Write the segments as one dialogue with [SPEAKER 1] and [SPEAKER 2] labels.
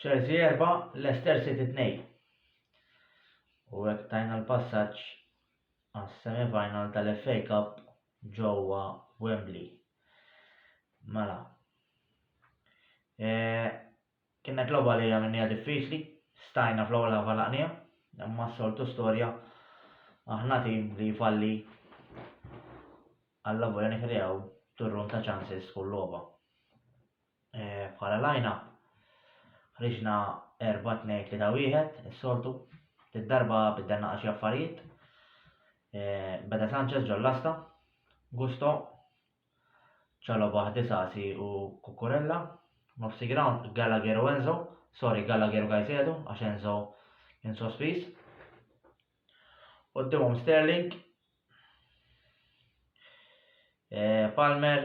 [SPEAKER 1] Chelsea 4, Leicester City 2. U hekk tajna l-passaġġ għas-semifinal tal-FA Cup ġewwa Wembley. Mela. E, Kienet logħba li għamilniha diffiċli, stajna fl-ewwel ħaf għalaqniha, imma s-soltu storja aħna tim li jfalli alla volja nikreaw turrun ta' ċansis kull logħba. E, bħala lajna, ħriġna 4-2-3-1, is-soltu, id-darba biddelna għaxi affarijiet, e, beda Sanchez ġol-lasta, Gusto, Chalobah Disasi u Cucurella, nofsi grawnd Gallagher u Enzo, sorry Gallagher u Caicedo għax Enzo kien sospiż. Quddiemhom Sterling, eh, Palmer,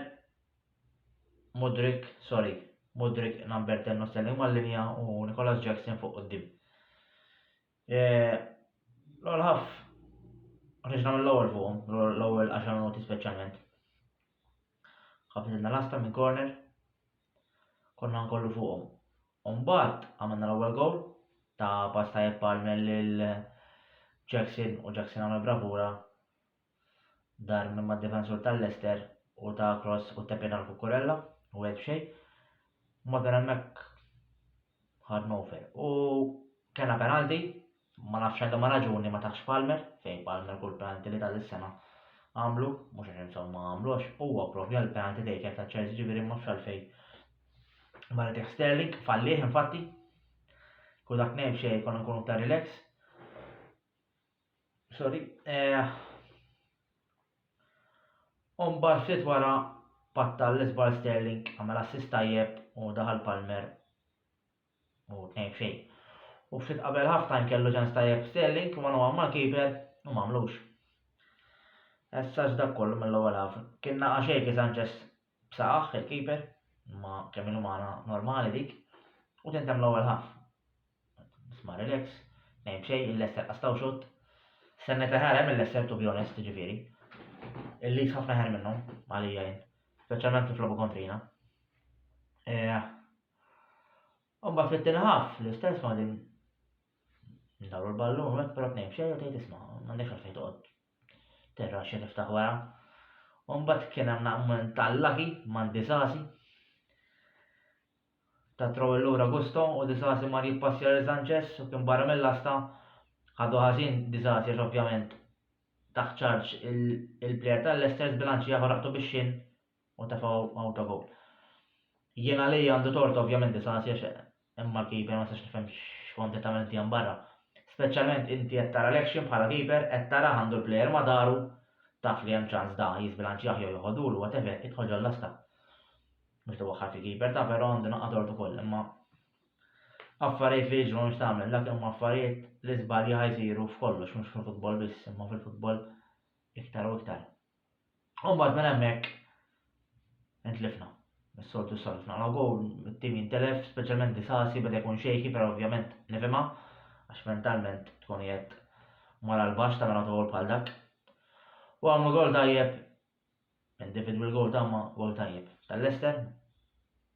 [SPEAKER 1] Mudrik, sorry, Mudrik number 10 u Sterling mal-linja u Nicolas Jackson fuq quddiem. L-ewwel ħaff ħriġ nagħmel l-ewwel fuqhom, l-ewwel 10 minuti speċjalment. Ħafidna lasta minn corner, konna nkollu fuqhom. Umbagħad għamilna l-ewwel gowl ta' pass tajjeb għal lil Jackson u Jackson għamel bravura Dar minn mad-difensur tal-Leicester u ta cross u tepien għal Cucurella u wieħed b'xejn. Morgan hemmhekk ħa tnofel u kellna penalti, ma nafx għal liema raġuni ma taħx Palmer, fejn Palmer kull penalti li ta' dis-sena għamlu, mhux għax insomma ma għamlux, huwa proprja l-penalti taker ta' Chelsea ġifieri ma nafx għalfejn ma ritiħ Sterling, fallih infatti, kull dak ngħid xejn konna nkunu ta' relax. Sorry. Eh, Umbar ftit wara patta l-izbal Sterling għamel assist tajjeb u daħal Palmer u tnejn xej. U ftit qabel ħafna kellu ġan tajjeb Sterling u għanu ma kiber u mamlux. Essaġ dak kollu mill-ewwel għaf. Kienna għaxej ki Sanchez B'saqajh il-keeper, imma kemm hi umana normali dik, u tintemm l-ewwel half. Isma' relax, tnejn b'xejn, il-Leicester qastgħu xutt. Stennejt aħjar hemm il-Leicester to be honest, jiġifieri. Il-Leeds ħafna aħjar minnhom, għalija jien. Speċjalment kif logħbu kontrina. Eh, Umbat fit-tieni ħaf, l-istess ma din ndawru l-ballun, hekk però tnejn xejn u tgħid isma' m'għandekx għalfejn toqgħod Terrace niftaħ wara. U mbagħad kien hemm naqment tal-laki man disasi. Ta' trawel lura Gusto u disasi mar jippassja lil Sanchez u kien barra mill-lasta ħadu ħażin disasi għax ovvjament taħt ċarġ il-plejer tal-Leicester zbilanċi ieħor ħaqtu bix-xinn u tefgħu awtogol. Jien għalija għandu tort ovvjament Disasi għax imma l-keeper ma nistax nifhem x'kont qed tagħmel inti hemm barra. Speċjalment inti qed tara l-action bħala keeper qed tara għandu l-plejer ma daru taf li hemm ċans da jiżbilanċjah jew joħodulu whatever idħol ġol lasta. Mhux tiwaħħal fi keeper ta' però għandu naqgħod tort ukoll imma affarijiet li jiġru mhux tagħmel dak imma affarijiet li żbalja ħajsiru f'kollox mhux fil-futbol biss imma fil-futbol iktar u iktar. U mbagħad minn hemmhekk intlifna. Is-soltu s-solfna la gowl, it-tim jintelef, speċjalment disasi beda jkun xejki, però ovvjament nifhimha għax mentalment tkun jett mara l-baxx ta' mela gol bħal dak. U għamlu gol tajjeb, individual gol ta' ma gol tajjeb. Tal-Lester,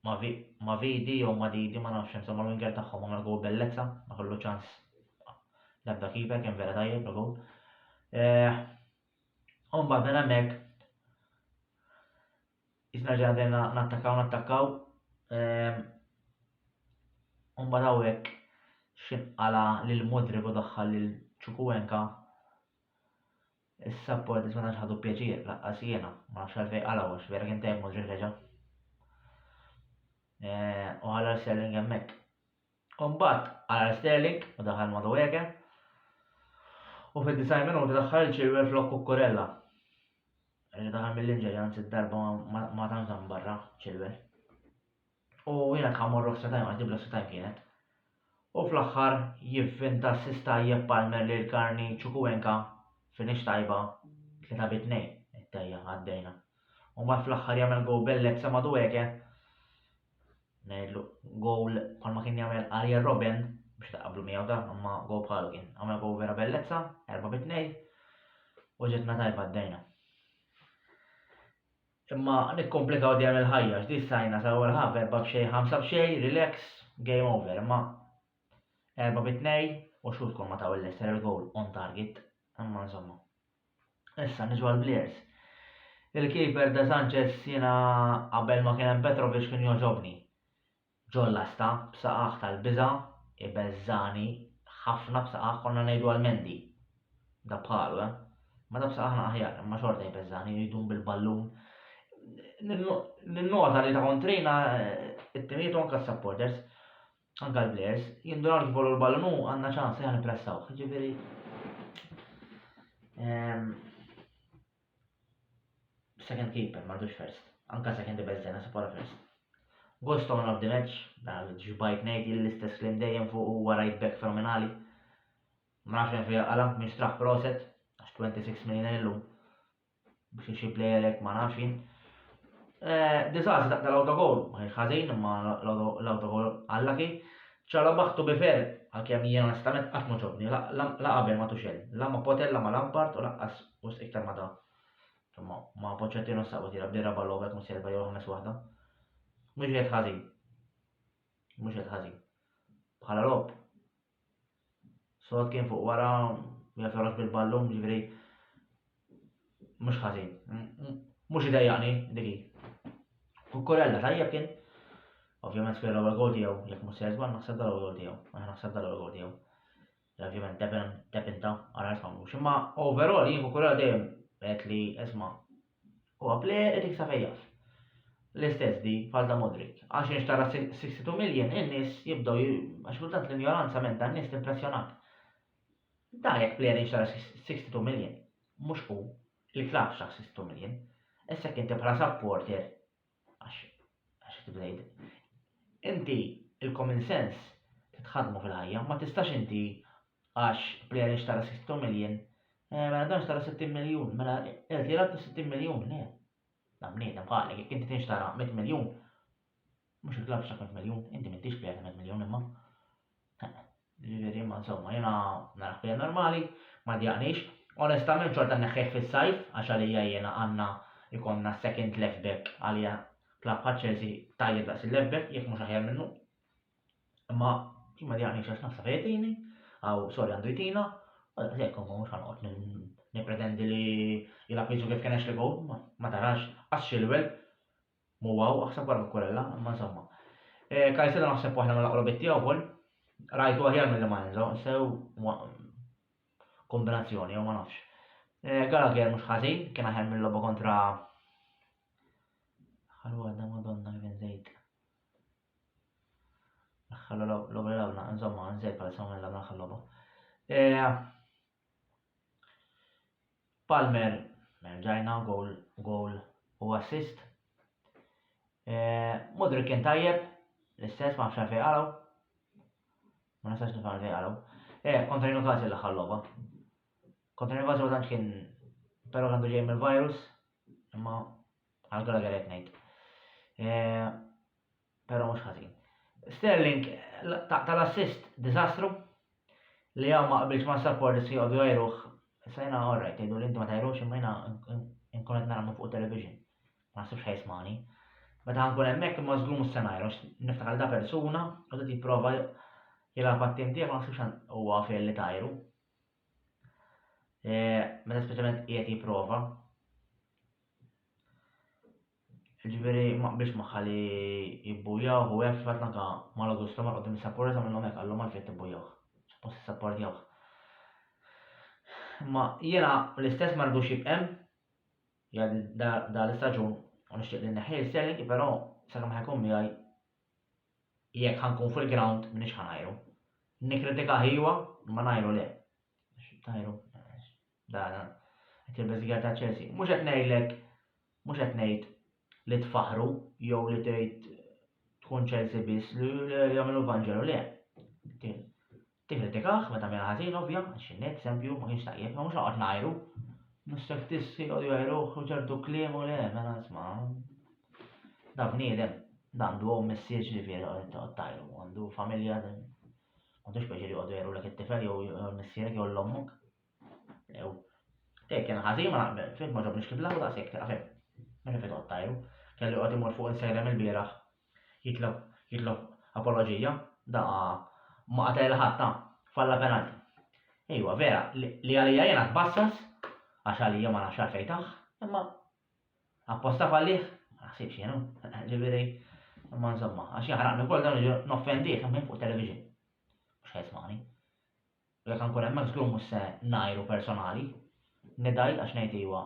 [SPEAKER 1] ma vidi jew ma didi ma nafx insomma l-winger tagħhom għamel gol bellezza, ma kollu ċans l-ebda keeper kien vera tajjeb l-gol. Eh, U mbagħad minn hemmhekk isna ġadena nattakkaw nattakkaw ehm, u mbagħad hawnhekk xinqala lil Mudrik u daħħal lil Ċukuwenka is-sapport li ma ħadu pjaċir laqqas jiena ma nafx għalfejn qalgħu għax vera kien tajb Mudrik reġa'. Eh, u ħalla Sterling hemmhekk. U mbagħad għajjar Sterling u daħal Madueke u fid-90 minuta daħħal il-Chilwell flok Cucurella. Li daħal mill-inġeri anzi d-darba ma tantx hemm barra Chilwell. U jiena kemm morru extra time għax extra time kienet. U fl-aħħar jivvinta s-sis tajjeb Palmer li l-karni ċukuwenka finix tajba 3 bit 2 it-tajja għaddejna. U ma fl-aħħar jagħmel go bellet sa Madueke ngħidlu gowl bħalma kien jagħmel Arjen Robben biex taqablu miegħu da, imma gowl bħalu kien. Għamel gowl vera bellezza, erba' bi tnej, u ġetna tajba d-dejna. Imma nikkomplikaw dejjem il-ħajja, x'di sajna sa ewwel ħaf erba' b'xej, ħamsa b'xej, relax, game over, imma erba' bi tnej u xut kol ma taw il-Leicester il-gowl on target, imma insomma. Issa niġu għall-players. Il-keeper De Sanchez jiena qabel ma kien hemm Petrovic kien jogħġobni. Ġollasta, b'saqaq tal-biża', ibeżżagħni ħafna b'saqaq konna ngħidu għal Mendy. Da bħalu, eh? Ma da b'saqaq aħjar, imma xorta jbeżżagħni jridun bil-ballun. Ninnota li ta' kontrina eh, it-timijiet anka supporters Anke l-plejers jindunaw li kif l ballun hu għandna ċans li aħna nippressawh. Ġifieri ehm, second keeper m'għandux first. Anke second best dena se bħala first. Ghost on of the match, dan ġbajt ngħid l-istess klim dejjem fuq huwa right back fenomenali. Ma nafx fejn għala, mistraħ proset, 26 million illum. biex xi plejer hekk ma nafx jien. Eh, Diżastru ta' l-autogol, ma kienx ħażin imma l-autogol għallaki. Ċala baħtu bifer, għalkemm jien onestament qatt ma ġobni, la qabel ma tuxel, la ma potel, la ma lampart u laqqas u iktar ma da. Insomma, ma poċċettinu s-sabu tira b'dira ballobek mu serba jew ħames waħda. Mhux qed ħażin. Mhux qed ħażin. Bħala lob, Sod kien fuq wara, u jaf jorox bil-ballum, ġifiri. Mux ħazin. Mux idejjaqni, diki. U korella tajjeb kien. Ovvijament kien l-ewwel gol tiegħu, jekk mhux se żball naħseb dal-ewwel gol tiegħu. Aħna naħseb dal-ewwel gol tiegħu. Ovvijament depinta, għara jisma' mhux. Imma overall jien korella dejjem qed li isma' Huwa plejer qed jiksab ejjaf. L-istess di bħal ta' Modric. Għax inx tara 62 million in-nies jibdew għax kultant l-injoranza minn dan nies timpressjonak. Da jekk plejer inx tara 62 million, mhux hu, il-klabb xtaq 62 million. Issa jekk inti bħala supporter Għax, għax kif tibda jgħid, inti il-common sense titħaddmu fil-ħajja, ma tistax inti għax player xtara 60 miljun, eh, mela dan xtara 60 miljun, mela qed li rabta 60 miljun, le. Dan bniedem ħalek, jekk inti tinxtara 100 miljun, mhux il-klabb xtara 100 miljun, inti m'intix player ta' 100 miljun imma. Ġifieri ma insomma, jiena naraħ bija normali, ma djaqnix. Onestament xorta neħħejh fis-sajf għax għalija jiena għandna jkollna second left back għalija klabb bħal Chelsea tajjeb daqs il-left back jekk mhux aħjar minnu. Imma ma djaqnix għax naħseb jtini, għaw sorry għandu jtina, għalhekk jekk ma mhux ħanqod nippretendi li jilgħab jiġu kif kien li gow, ma tarax għax xilwel Mhu hawn, aħseb wara Cucurella, imma insomma. Eh, Caicedo naħseb waħda mill-aqrobit tiegħu wkoll. Rajtu aħjar mill ma Enzo, sew kombinazzjoni jew ma nafx. Eh, Gallagher mhux ħażin, kien aħjar mill-logħba kontra Ħallu għadda madonna kien żejt. Ħallu logħba lawna, insomma, nżejt bħal sa minn lawna ħallu eh, Palmer, rġajna goal, goal u assist. Eh, Mudri kien tajjeb, l-istess ma nafx fejn għalaw. Ma nafx nifhem fejn għalaw. Eh, kontra Newcastle l-aħħar logħba. Kontra Newcastle ma tantx kien però għandu ġej mill-virus, imma għal Gallagher qed ngħid. Eh, Però mhux ħażin. Sterling taqta' l-assist diżastru li hawn ma qbilx ma' supporters li jqogħdu jgħiruh. Issa jiena all right jgħidu li inti ma tgħirux imma jiena nkun qed nagħmlu fuq television. Ma naħsibx ħajsmani. Meta ħankun hemmhekk imma żgur mhux se ngħiru niftakar da persuna u qed jipprova jilgħab għat-tim tiegħek ma naħsibx huwa fejn li tajru. Eh, meta speċjalment qiegħed jipprova. Jiġifieri ma qbilx magħha li jibbujjawh u hekk fil-fatt anke Mal Augusto mar quddiem is-sapporters għamilhom hekk qallhom għalfejn qed tibbujjawh. Suppost issapportjawh. Imma jiena l-istess ma ridux jibq' hemm jgħaddi dan l-istaġun u nixtieq li nneħħih l-Sterling però sakemm ħa jkun miegħi jekk ħa nkun fil-ground m'iniex ħa ngħajru. Nikkritikah iva imma ngħajru le. Ngħajru. Dana, qed il-beżiga ta' Chelsea. Mhux qed ngħidlek, mhux qed ngħid li tfaħru jew li tgħid tkun Chelsea biss li jagħmlu l-Vanġelu le. Tikkritikah meta mela ħażin ovvja, għax innek eżempju ma kienx tajjeb, ma mhux noqgħod ngħajru. Nistek tissi u jgħajruh u ċertu kliem u le, mela nisma. Da bniedem, dan du għom messieġ li vjeri għod tajru, għandu familja, għandu xpeċi li għodu jgħajru l-ek it-tifel jew messierek jew l-ommok. Ew. Tejk kien ħażin ma naqbel, fim ma ġobniex kif laħu daqshekk ta' fim. Minn ifid qod tajru. Kellu joqgħod imur fuq insejlem il-bieraħ. Jitlob jitlob apoloġija. Da ma qatel il ħadd ta' falla penalti. Ejwa, vera, li għalija jiena tbassas, għax għalija ma nafx għalfejn tah, imma apposta fallih, ma naħsibx jienu, ġifieri, imma insomma, għax jaħraqni wkoll dan noffendih minn fuq television. Mhux ħesmani. U jekk nkun hemmhekk żgur mhux se ngħajru personali. Nidgħid għax ngħid iwa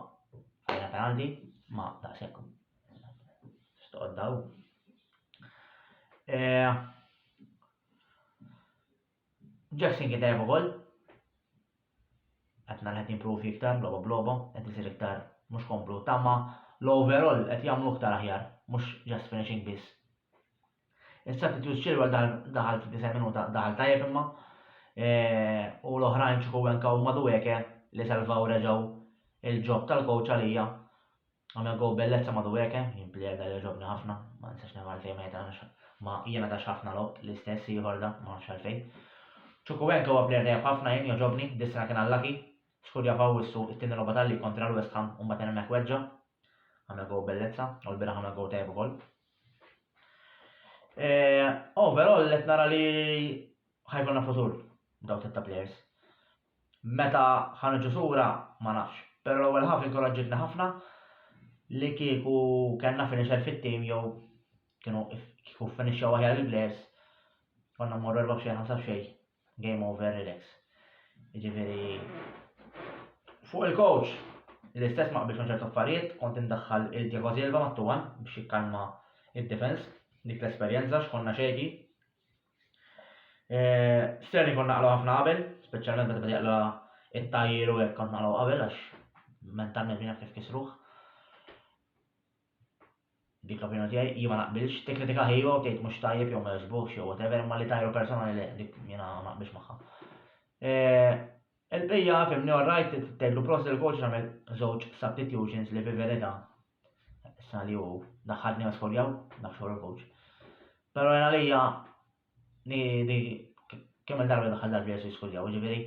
[SPEAKER 1] għalina penalti, ma daqshekk stqodda hu. Eh, Jackson kien tajjeb ukoll. Qed nara qed jimpruvi iktar logħba b'logħba, qed isir iktar mhux komplu tama l-overall qed jagħmlu iktar aħjar, mhux just finishing biss. Is-substitute Chilwell daħal fid-90 minuta daħal tajjeb imma u l-oħrajn Chukwuemeka u Madueke li salvaw reġgħu il-ġob tal-coach għalija. Għamel gow bellezza Madueke, jien plejer dan jogħġobni ħafna, ma nistax nifhem għalfejn ma jitgħamilx ma jiena tax ħafna logħob l-istess ieħor da, ma nafx għalfejn. Chukwuemeka huwa plejer tajjeb ħafna jien jogħġobni, dis-sena kien allaki, skur jaf Awwissu it-tieni logħba tal-lig kontra l-West Ham u mbagħad minn hemmhekk weġġa'. Għamel gow bellezza u l-bieraħ għamel gow tajjeb ukoll. Overall qed nara li ħa jkollna futur b'dawn t-tliet ta' plejers. Meta ħa niġu sura ma nafx, però l-ewwel half inkoraġġietna ħafna li kieku kellna finisher fit-tim jew kienu kieku ffinixxew aħjar il-plejers konna mmorru erbgħa b'xejn ħamsa b'xejn Game over relax. Jiġifieri fuq il-coach l-istess ma qbilx ma' ċertu affarijiet, kont indaħħal il-Diego Silva mat-tuwan biex jikkalma id-defense, dik l-esperjenza x'konna xejki. Eh, Sterling kont naqlu ħafna qabel, speċjalment meta bada jaqla it-tajjir u hekk kont naqlu qabel għax mentalment minn kif kisruh. Dik l-opinjoni tiegħi, jien ma naqbilx. Tikkritika ħi u tgħid mhux tajjeb jew ma jogħġbokx jew whatever, imma li tajru personali le, dik jiena ma naqbilx magħha. Il-bqija fimni all right tgħidlu prost il coach nagħmel żewġ substitutions li fi verità sa li hu daħħalni għas skoljaw, nafx il coach. Però jena lija li kemm il-darba daħħal darbi għas skoljaw, ġifieri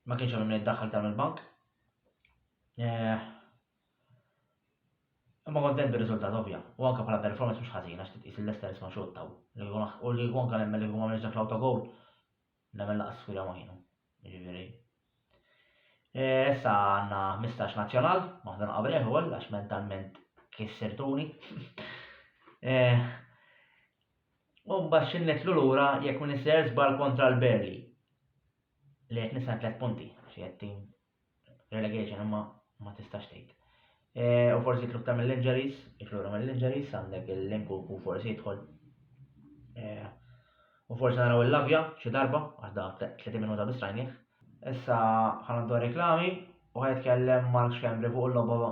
[SPEAKER 1] ma kienx hemm id-daħħal tal-bank. Eh, Imma kontent bir-riżultat ovvja, u anke bħala performance mhux ħażina għax titqis li Leicester isma' xottaw. U li kieku anke nemmen li kieku ma għamilx dak l-autogowl, nemmen laqas skwida ma kienu. Jiġifieri. Eh, issa għandna 15 nazzjonal, waħda naqabrih ukoll għax mentalment kissirtuni. Eh, u mbagħad xi nitlu lura jekk minn isser żball kontra l-Berli. Li qed nisna tliet punti, xi qed tim relegation imma ma tistax tgħid. E, u forsi jitlu ta' mill-injuries, jitlu mill-injuries, għandek il-linku u forsi jidħol. E, u forsi naraw il-lavja xi darba, għax da 30 minuta biss rajnih. Issa ħanaddu reklami u ħajtkellem Mark Xembri fuq il-logħba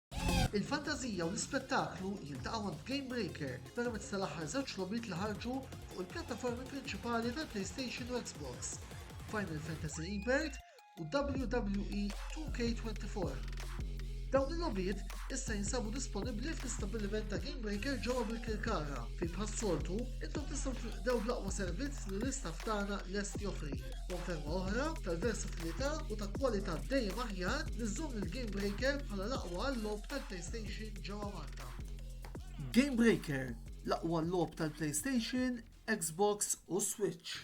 [SPEAKER 1] Il-fantażija u l-ispettaklu jiltaqgħu għand Game Breaker permezz tal-aħħar żewġ logħbiet li ħarġu fuq il-pjattaformi prinċipali tal-PlayStation u Xbox, Final Fantasy Rebirth u WWE 2K24. Dawn il-logħbiet issa jinsabu disponibbli fl-istabbiliment ta' Game Breaker ġewwa bil-Kirkara, fejn bħas-soltu intom tistgħu tilqdew bl-aqwa servizz li l-istaff tagħna lest joffri. Konferma oħra tal-versatilità u ta' kwalità dejjem aħjar li żżomm il-Game Breaker bħala l-aqwa għall-logħob tal-PlayStation ġewwa Malta. Game Breaker, l-aqwa logħob tal-PlayStation, Xbox u Switch.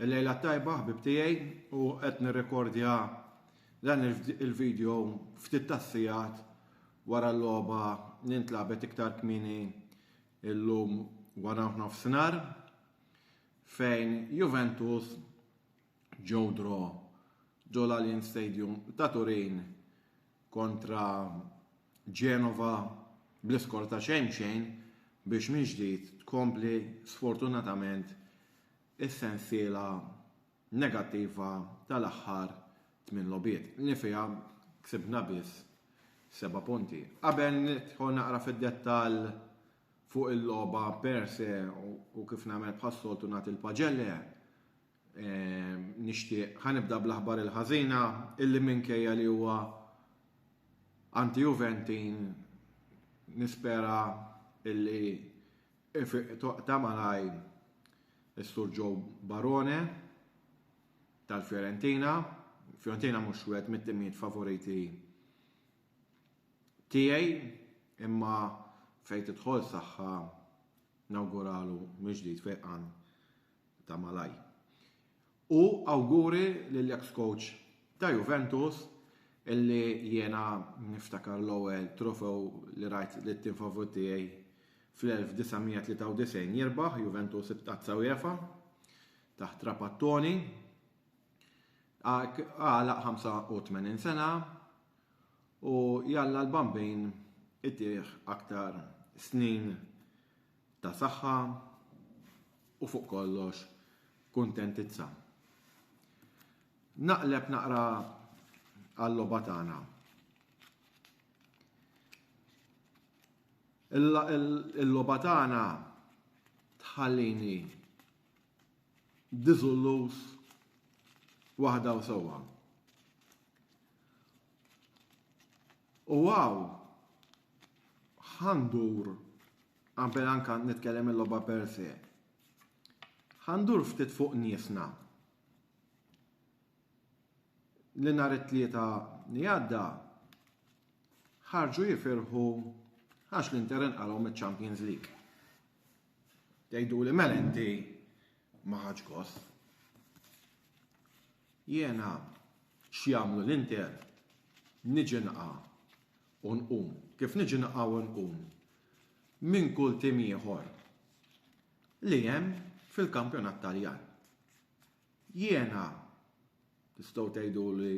[SPEAKER 1] Il-lejla tajba, ħbib tiegħi, u qed nirrekordja dan il-video ftit tassijat wara l-logħba nintlabet iktar kmini illum wara nofsinhar fejn Juventus Joe draw ġo l-Allianz Stadium ta' Turin kontra Genova bl-iskor ta' xejn b'xejn biex minn ġdid tkompli sfortunatament is-sensiela negattiva tal-aħħar tmien logħbiet li fiha ksibna biss seba' punti. Qabel nidħol naqra fid-dettall fuq il-logħba per se u kif nagħmel bħas-soltu nagħti l-paġelle, Nixtieq ħanibda bl-aħbar il-ħażina illi minkejja li huwa anti-Juventin nispera illi ta' malaj is-Sur Joe Barone tal-Fiorentina. Fiorentina mhux wieħed mit-timijiet favoriti tiegħi imma fejn tidħol saħħa nawguralu mill-ġdid fejqan ta' malajr. U awguri lill-eks coach ta' Juventus illi jiena niftakar l-ewwel trofew li rajt lit-tim favorit tiegħi fl-1993 jirbaħ Juventus b'tazza UEFA taħt Trapattoni għalaq 85 sena u jalla l-Bambin itih aktar snin ta' saħħa u fuq kollox kuntentizza. Naqleb naqra għall-logħba tagħna. Il-logħba tagħna tħallini diżullus waħda u sewwa. U hawn ħa ndur qabel anke nitkellem il-logħba per se. Ħa ndur ftit fuq niesna. Li nhar it-tlieta li għadda ħarġu jifirħu għax l-Inter inqalgħu miċ-Champions League. Tgħidu li mela inti ma ħadx gost. Jiena x'jagħmlu l-Inter niġi nqa' u nqum. Kif niġi nqa' u nqum minn kull tim ieħor li hemm fil-kampjonat Taljan. Jiena tistgħu tgħidu li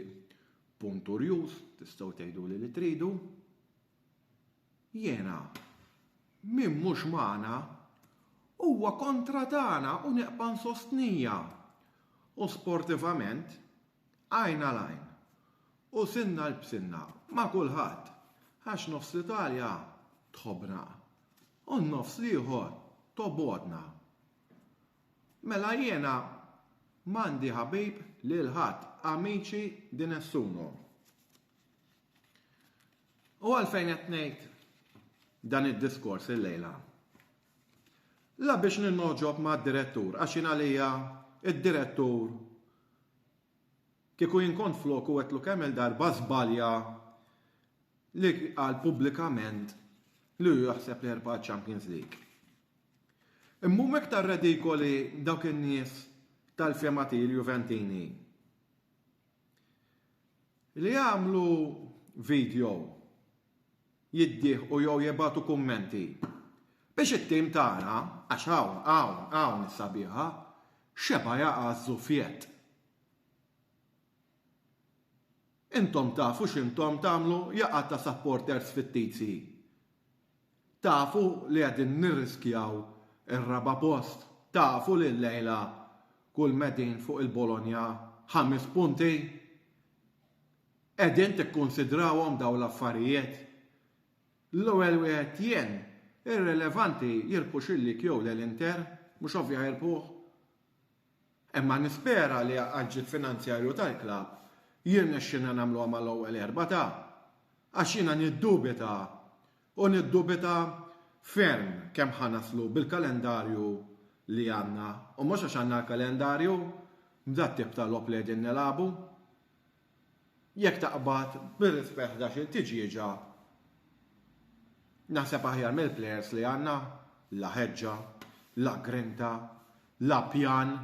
[SPEAKER 1] punturjus, tistgħu tgħidu li li tridu, Jiena, Min mhux magħna, huwa kontra tagħna u neqpa' nsostnija. U sportivament, għajn għal għajn, u sinna għal b'sinna, ma' kulħadd, għax nofs l-Italja tħobbna, u n-nofs l-ieħor tobgħodna. Mela jiena m'għandi ħabib lil ħadd, amici di nessuno. U għalfejn qed ngħid dan id-diskors illejla? La biex ninnoġob mad-direttur, għax jien għalija id-direttur kieku jien kont flok u għedtlu kemm il-darba żbalja li qal pubblikament li hu jaħseb li jerbaħ Champions League. Immu iktar redikoli dawk in-nies tal-fema Juventini. Li jagħmlu video, jiddieħqu jew jibgħatu kummenti biex it-tim tagħna, għax hawn, hawn, hawn is-sabiħa, xeba' jaqa' ż-żufjett. Intom tafu x'intom tagħmlu jaqgħat ta' supporters fittizji. Tafu li qegħdin nirriskjaw ir-raba' post? Tafu li llejla kull m'qegħdin fuq il-Bologna ħames punti? Qegħdin tikkunsidrawhom dawn l-affarijiet? L-ewwel wieħed jien, irrilevanti jirbħux il-Lig jew le l-Inter, mhux ovvja jirbħuh. Imma nispera li għall-ġid finanzjarju tal-klabb jirnexxilna nagħmluha mal-ewwel erba' ta' għax jiena niddubita u niddubita ferm kemm ħa naslu bil-kalendarju li għandna u mhux għax għandna l-kalendarju b'dat-tip ta' logħob li qegħdin nilagħbu. Jekk taqbad bir-rispett ħdax-il tiġieġa, naħseb aħjar mill-plejers li għandna, la ħeġġa, la grinta, la pjan,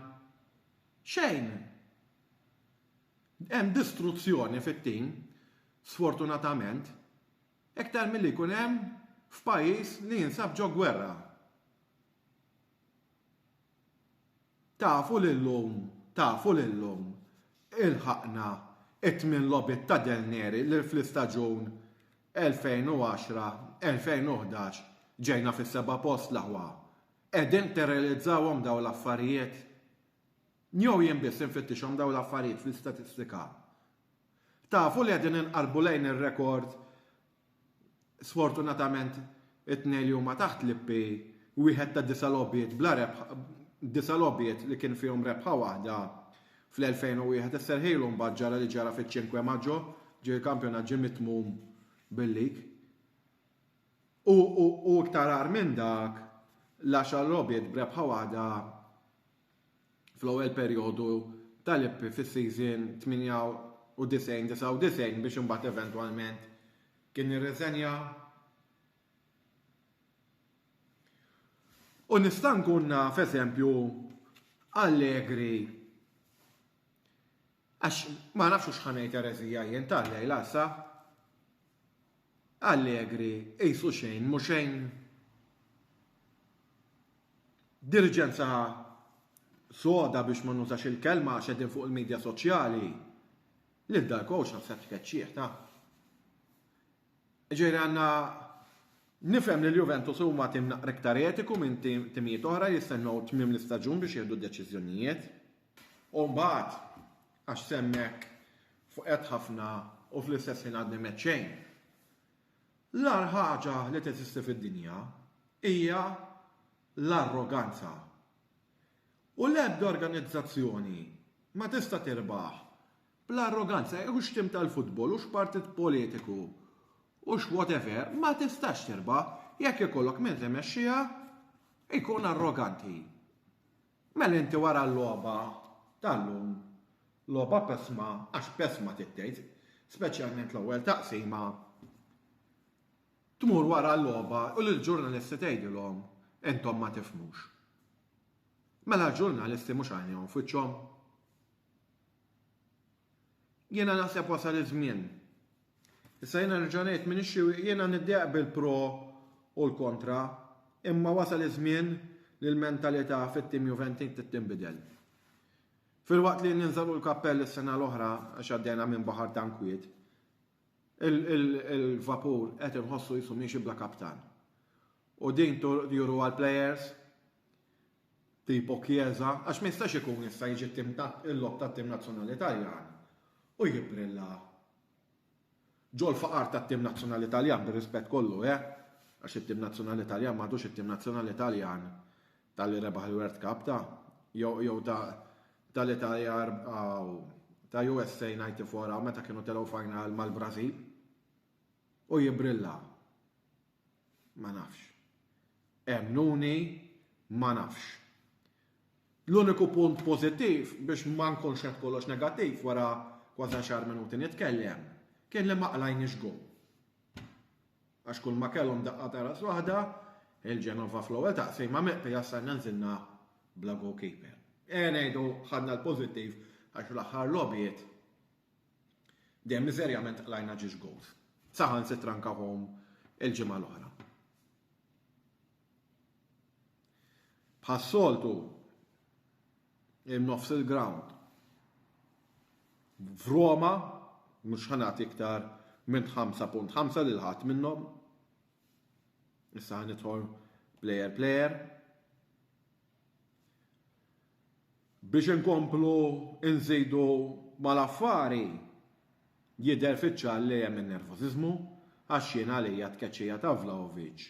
[SPEAKER 1] xejn! Hemm distruzzjoni fit-tim, sfortunatament, iktar milli jkun hemm f'pajjiż li jinsab ġo gwerra. Tafu li llum, tafu li llum, ilħaqna t-tmien logħbiet ta' Del Neri li fl-istaġun 2010, 2011 ġejna fis-seba' post l-aħwa? Qegħdin tirrealizzawhom dawn l-affarijiet? Jew jien biss infittixhom dawn l-affarijiet fl-istatistika? Tafu li qegħdin inqarrbu lejn ir-rekord Sfortunatament it-tnejn li huma taħt l-IP, wieħed ta' disa' logħbiet bla rebħa, disa' logħbiet li kien fihom rebħa waħda fl-2001 isserħilu mbagħad ġara li ġara fiċ-Cinque Maggio, ġie l-kampjonat ġie mitmum bil-lig. U, u, u iktar agħar minn dak, l-għaxar logħbiet b'rebħa waħda fl-ewwel perjodu tal-Epri fis-season 98-99 biex imbagħad eventwalment kien irriżenja. U nista' nkun naf eżempju Allegri Għax ma nafx hux ħa ngħid ereżija jien tal-lejla sa. Allegri qisu xejn mhu xejn. Diriġenza soda biex ma nużax il-kelma għax qegħdin fuq il-midja soċjali. Lil dal-coach naħseb tkeċċih taf. Ġifieri għandna nifhem li l-Juventus huma tim naqra iktar etiku minn timijiet oħra jistennew tmiem l-istaġun biex jieħdu deċiżjonijiet. U mbagħad, għax s'hemm hekk, fqedt ħafna u fl-istess ħin għadni m'għedt xejn. L-agħar ħaġa li teżisti fid-dinja hija l-arroganza. U l-ebda organizzazzjoni ma tista' tirbaħ bl-arroganza, hux tim tal-futbol, hux partit politiku, hux whatever, ma tistax tirbaħ jekk ikollok min timexxiha jkun arroganti. Mela inti wara l-logħba tal-lum, logħba pesma, għax pesma trid tgħid, speċjalment l-ewwel taqsima, tmur wara l-logħba u lill-ġurnalisti tgħidilhom intom ma tifhmux. Mela l-ġurnalisti mhux għajnejhom f'wiċċhom? Jiena naħseb wasal iż-żmien. Issa jiena nerġa' ngħid m'iniex xi jiena niddi eqbel pro u l-kontra, imma wasal iż-żmien li l-mentalità fit-tim Juventin trid tinbidel. Filwaqt li ninżgħu l-kappell is-sena l-oħra għax għaddejna minn baħar ta' nkwiet, il-vapur qed inħossu qisu miexi bla kaptan. U din juruha l-plejers, Tipo Chiesa, għax ma jistax ikun issa jiġi t-tim ta' il-logħob tat-tim nazzjonali Taljan u jibbrilla ġol faqar tat-tim nazzjonali Taljan bir-rispett kollu eh, għax it-tim nazzjonali Taljan m'għadux it-tim nazzjonali Taljan ta' li rebaħ il-World Cup ta' jew ta' ta' l-Italja aw ta' USA 94 aw meta kienu telgħu final mal-Brażil u jibbrilla. Ma nafx. Emmnuni, ma nafx. L-uniku punt pożittiv biex ma nkunx qed kollox negattiv wara kważi għaxar minuti nitkellem kien li ma qlajniex goal. Għax kull ma kellhom daqqa ta' ras waħda, il-Genova fl-ewwel taqsima meqta jassalna nżilna bla goalkeeper. E ngħidu ħadna l-pożittiv għax fl-aħħar logħbiet Dejjem miżerjament qlajna ġiex gowls. Saħansitra nkawhom il-ġimgħa l-oħra. Bħas-soltu in-nofs il-ground f'Roma mhux ħanat iktar minn 5.5 lil ħadd minnhom. Issa ħanidħol player player. Biex inkomplu nżidu mal-affari, jidher fiċ-ċar li hemm in-nervużiżmu għax jien għalija t-tkeċċija ta' Vlahovic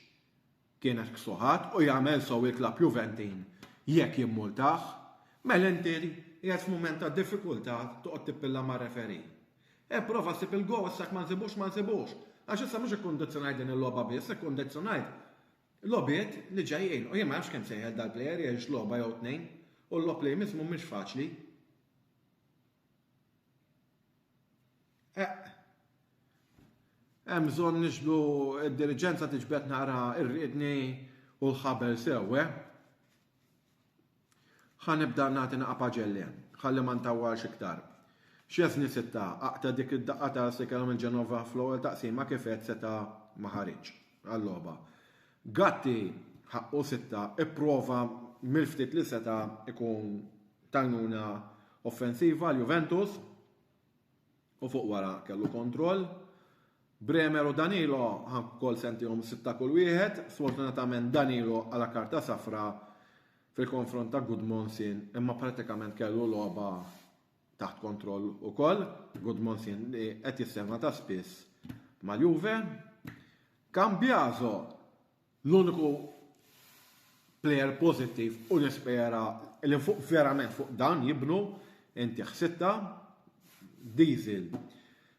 [SPEAKER 1] kienet ksuħat u jagħmel sew jitlab Juventin jekk jimmultah. Mela inti qiegħed f'mument ta' diffikultà toqgħod tippilla mar-referee. Ipprova ssib il-goal issa jekk ma nsibux ma nsibux għax issa mhux ikkundizzjonajt din il-logħba biss, ikkundizzjonajt Logħbiet li ġejjin u jien ma nafx kemm sejħel dal-plejer jgħix logħba jew tnejn u l-logħob li jmiss mhumiex faċli. Eqq. Hemm bżonn niġbdu d-diriġenza tiġbed naqra r-riedni u l-ħabel sew, eh? Ħa nibda nagħti naqa' paġelli, ħalli ma ntawwalx iktar. Szczesny Sitta aqta' dik id-daqqa ta' sikel minn Genova fl-ewwel taqsima kif għedt seta' ma ħariġx għal-logħba. Gatti, ħaqqu Sitta, ipprova mill-ftit li seta' jkun t'għajnuna offensiva għal Juventus. u fuq wara kellu kontroll. Bremer u Danilo ħank ukoll sentihom sitta kull wieħed, sfortunatament Danilo għala karta safra fil-konfront ta' Gudmondsen imma pratikament kellu logħba taħt kontroll ukoll, Gudmondsen li qed jissema ta' spiss mal-Juve. Cambiaso L-uniku plejer pożittiv u nispera li fuq verament fuq dan jibnu inti ħsitta Diesel.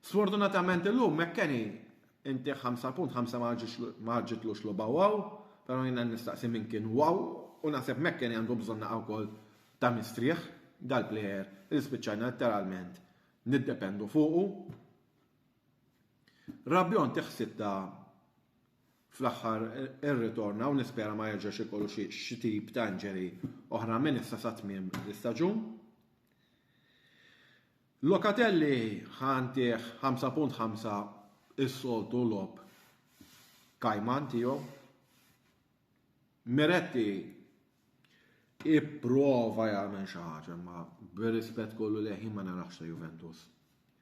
[SPEAKER 1] Sfortunatament illum McKennie inti 5 punt 5 ma ħaġġitlux logħba waw, però jiena nistaqsi min kien waw u naħseb McKennie għandu bżonn naqgħa wkoll ta' mistrieħ dal-plejer li spiċċajna letteralment niddependu fuqu. Rabiot inti ħsitta fl-aħħar irritorna u nispera ma jerġax ikollu xi tip ta' injury oħra minn issa sa tmiem l-istaġun. Locatelli ħantih 5.5 is-soltu logħob kajman tiegħu. Miretti Ipprova jagħmel xi ħaġa, imma bir-rispett kollu lejh jien ma narax sa Juventus.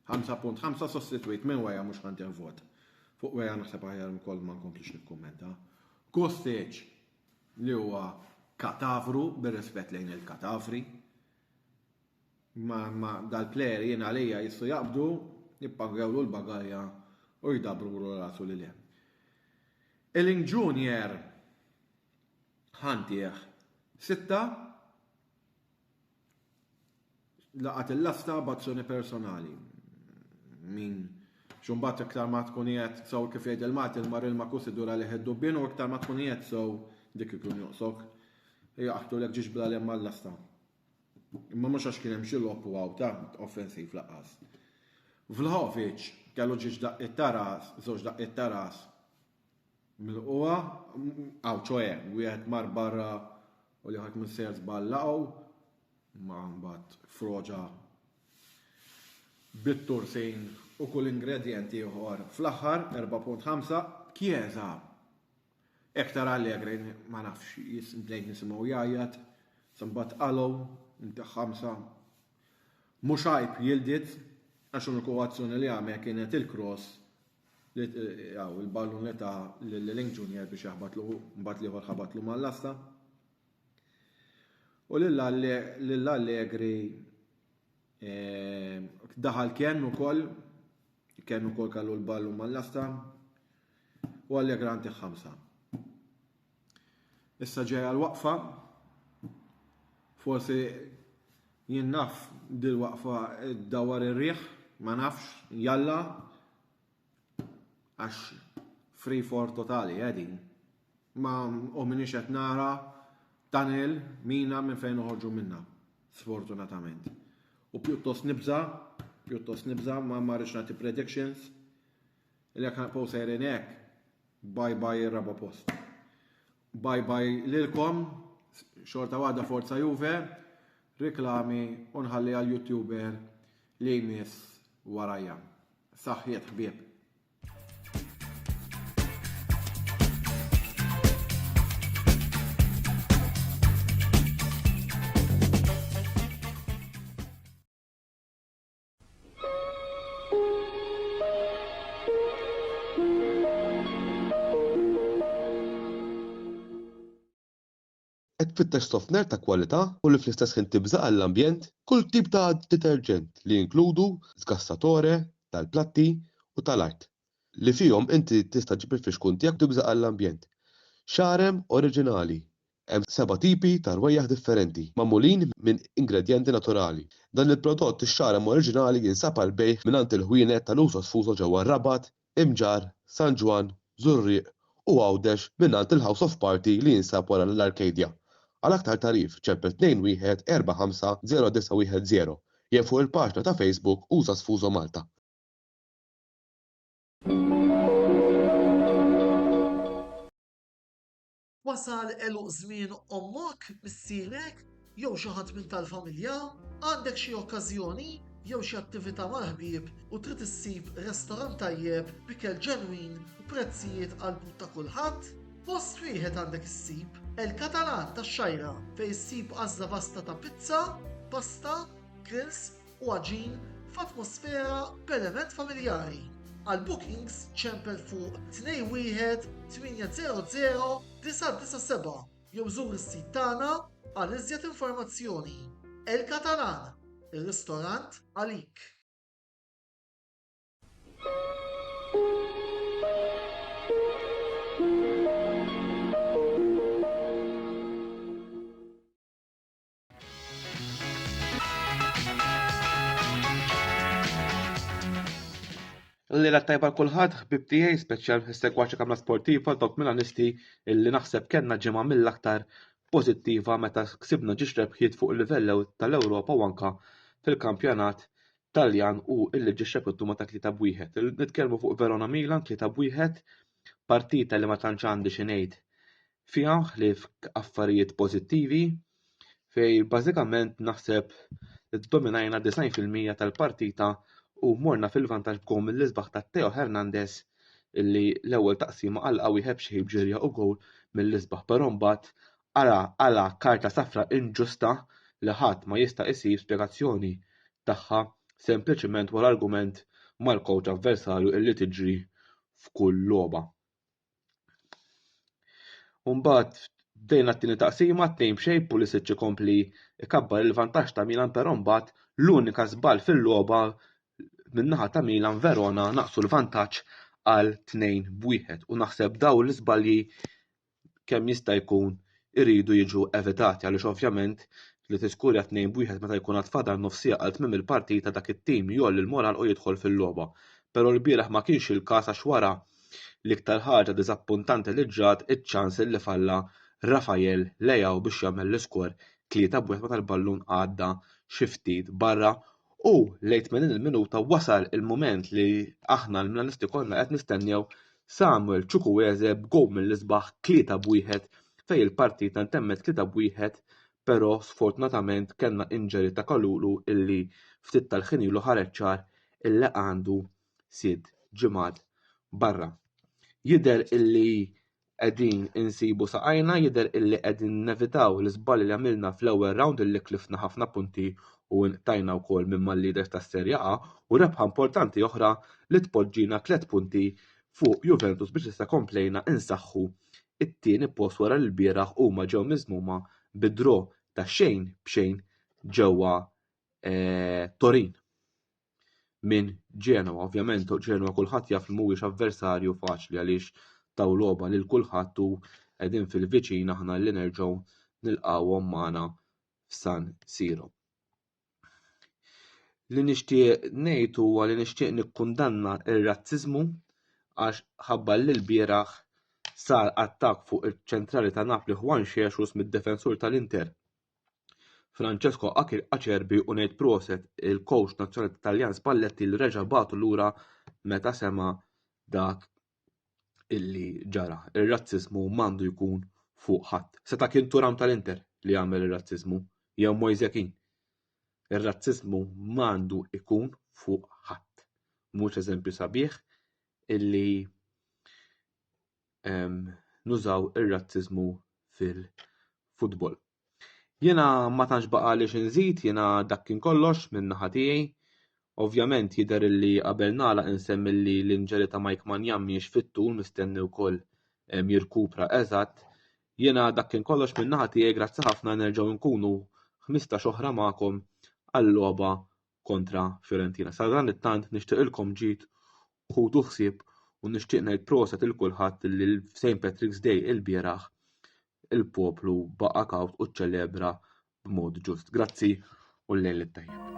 [SPEAKER 1] 5.5 sostitwit minn Weja mhux ħadd vot. Fuq Weja naħseb aħjar ukoll ma nkomplix nikkummenta. Kostic li huwa katavru bir-rispett lejn il-katavri. Ma, ma dal-plejer jien għalija jistgħu jaqbdu, jippangewlu l-bagalja u jdabrulu rasu li le. Eling Junior Ħantih. Sitta, laqat il-lasta b'azzjoni personali. Min xumbat iktar ma tkun jgħed sew kif jgħid il-mat il-mar il makus idur għalih id-dubbien u iktar ma tkun jgħed sew dik ikun joqsok. Jaqtu l ġiġ bla lemma l-lasta. Imma mhux għax kien hemm xi lob u għawta offensiv laqas. Vlahovic kellu ġiġ daqqiet taras, żewġ daqqiet taras, Milqugħa, aw ċoe, wieħed mar barra u li ħadd missejjer żball laqgħu, ma mbagħad froġa bit-tursin u kull ingredjent ieħor fl-aħħar 4.5 Chiesa Ektar Allegri ma nafx bdejt nisimgħu jgħajjat sa mbagħad qalgħu inti ħamsa mhux għajb jildid għax l-uniku azzjoni li għamel kienet il-cross Hawn il-ballun li ta lil Link Junior biex jaħbatlu mbagħad l-ieħor ħabatlu mal-lasta. U lil Allegri eh, daħal Ken ukoll, Ken ukoll kallu l-ballun mal-lasta u Allegra għandek ħamsa. Issa ġejja l-waqfa. Forsi jien naf dil-waqfa dawar ir-riħ, ma nafx, jalla, għax free for totali għedin. Eh, ma u minix qed nara tunnel mina minn fejn uħorġu minna, sfortunatament. U pjuttost nibza, pjuttost nibza, ma marriċ nagħti predictions, Li jekk nibqgħu sejrin hekk, bye bye ir-raba' post. Bye bye lilkom, xorta waħda Forza Juve, riklami u nħalli għal YouTuber li jmiss warajja. Saħħiet ħbieb! Qed tfittex sofner ta' kwalità u li fl-istess ħin tibża' għall-ambjent? Kull tip ta' deterġent li jinkludu sgassatore tal-platti u tal-art, li fihom inti tista' ġġib il-fixkun tiegħek u tibża' għall-ambjent. Xarem oriġinali, Hemm seba' tipi ta' rwejjaħ differenti, magħmulin minn ingredjenti naturali. Dan il-prodott ix-xaram oriġinali jinsab għall-bejgħ mingħand il-ħwienet ta' Lusos Fuso ġewwa r-Rabat, Imġarr, San Ġwann, Żurrieq u Għawdex mingħand il-House of Party li jinsab wara l-Arcadia. Għal aktar tagħrif ċempel 214509110 jew fuq il-paġna ta' Facebook Usas Fuso Malta. Wasal għeluq żmien ommok, missierek, jew xi ħadd minn tal-familja? Għandek xi okkażjoni jew xi attività mal-ħbieb u trid issib restorant tajjeb b'ikel ġenwin u prezzijiet għall-but ta' kulħadd? Post wieħed għandek issib, El Catalan tax-Xgħajra, fejn issib għażla vasta ta' pizza, pasta, grills u għaġin f'atmosfera perement familjari. Għal bookings ċempel fuq 21 800 997 jew żur is-sit tagħna għal iżjed informazzjoni. El Catalan, ir-ristorant għalik. Lejla tajba kulħadd ħbib tiegħi speċjal segwaċi kamra sportiva dawk milanisti illi naħseb kellna ġimgħa mill-aktar pożittiva meta ksibna ġiex rebħiet fuq il-livell tal-Ewropa u anka fil-kampjonat Taljan u illi ġiex rebħitu ma ta' tlieta bwieħed. Nitkellmu fuq Verona Milan tlieta bwieħed partita li ma tantx għandi xi ngħid fiha ħlief affarijiet pożittivi fejn bażikament naħseb ddominajna 90 fil-mija tal-partita u morna fil-vantaġġ b'gowl mill-isbaħ ta' Theo Hernandez illi l-ewwel taqsima għalqha wieħed b'xejn b'ġirja u gowl mill-isbaħ però mbagħad ara għala karta safra inġusta li ħadd ma jista' jsib spjegazzjoni tagħha sempliċement wara argument mal-kowċ avversarju illi tiġri f'kull logħba. Umbat, bdejna t-tini taqsima, t-tejn bxej, Pulisic ikompli ikabbar il-vantaġġ ta' Milan però mbagħad l-unika żball fil-logħba min-naħa ta' Milan Verona naqsu l-vantaġġ għal 2 b'wieħed u naħseb dawn l-iżbalji kemm jista' jkun iridu jiġu evitati għaliex ovvjament li tiskurja 2 b' 1 meta jkun għad fadal nofs siegħa għal tmiem il-partita dak it-tim jgħolli l-moral u jidħol fil-logħba pero l-bieraħ ma kienx il-każ għax wara l-iktar ħaġa diżappuntanti li ġrat iċ-ċans li falla Rafael Leao biex jagħmel l-iskor 3 b' 1 meta l-ballun għadda xi ftit barra U lejn 80 il-minuta wasal il-mument li aħna l-Milanisti konna qed nistennew Samuel Chukwueze b'gow mill-isbaħ 3 b'wieħed fejn il-partita ntemmet 3 b'wieħed però sfortunatament kellna injury ta' Kalulu illi ftit tal-ħin ilu ħareġ ċar illi għandu sitt ġimgħat barra. Jidher illi qegħdin insibu saqajna jidher illi qegħdin nevitaw l-iżbalji li għamilna fl-ewwel round illi kliftna ħafna punti u nqtajna wkoll minn mal-leaders tas-Serja A u rebħa importanti oħra li tpoġġina tliet punti fuq Juventus biex issa komplejna insaħħu it-tieni post wara li lbieraħ huma ġew miżmuma bi draw ta' xejn b'xejn ġewwa eh, Torin. minn Genoa. Ovvjament Genoa kulħadd jaf li mhuwiex avversarju faċli għaliex taw logħba lil kulħadd u qegħdin fil-viċin aħna li nerġgħu nilqgħuhom magħna f'San Siro. Li nixtieq ngħid huwa li nixtieq nikkundanna r-razziżmu għax ħabbar li l-bieraħ sar attakk fuq iċ-ċentrali ta' Napli Juan Xexus mid-defensur tal-Inter Francesco Acerbi u ngħid proset il-kowċ nazzjonali Taljan Spalletti li reġa' bagħtu lura meta sema' dak illi ġara. Ir-razziżmu m'għandu jkun fuq ħadd. Seta' kien Turam tal-Inter li għamel ir-razziżmu jew Moise Kean. Ir-razziżmu m'għandu jkun fuq ħadd. Mhux eżempju sabiħ illi nużaw ir-razziżmu fil-futbol. Jiena ma tantx baqa' li xinżid, jiena dak kien kollox minn naħa tiegħi. Ovvjament jidher li qabel nagħlaq insemmi li l-inġeri ta' Mike Manjan mhijiex fit-tul mistenni wkoll jirkupra eżatt. Jiena dak kien kollox minn naħa tiegħi, grazzi ħafna nerġgħu nkunu 15 oħra magħkom għal logħba kontra Fiorentina. Sadan it-tant nixtieqilkom ġid ħudu ħsieb u nixtieq ngħid proset il kulħadd li l-St. Patrick's Day il-bieraħ il-poplu baqa' kawt u ċċelebra b'mod ġust. Grazzi u l-lejl it-tajjeb.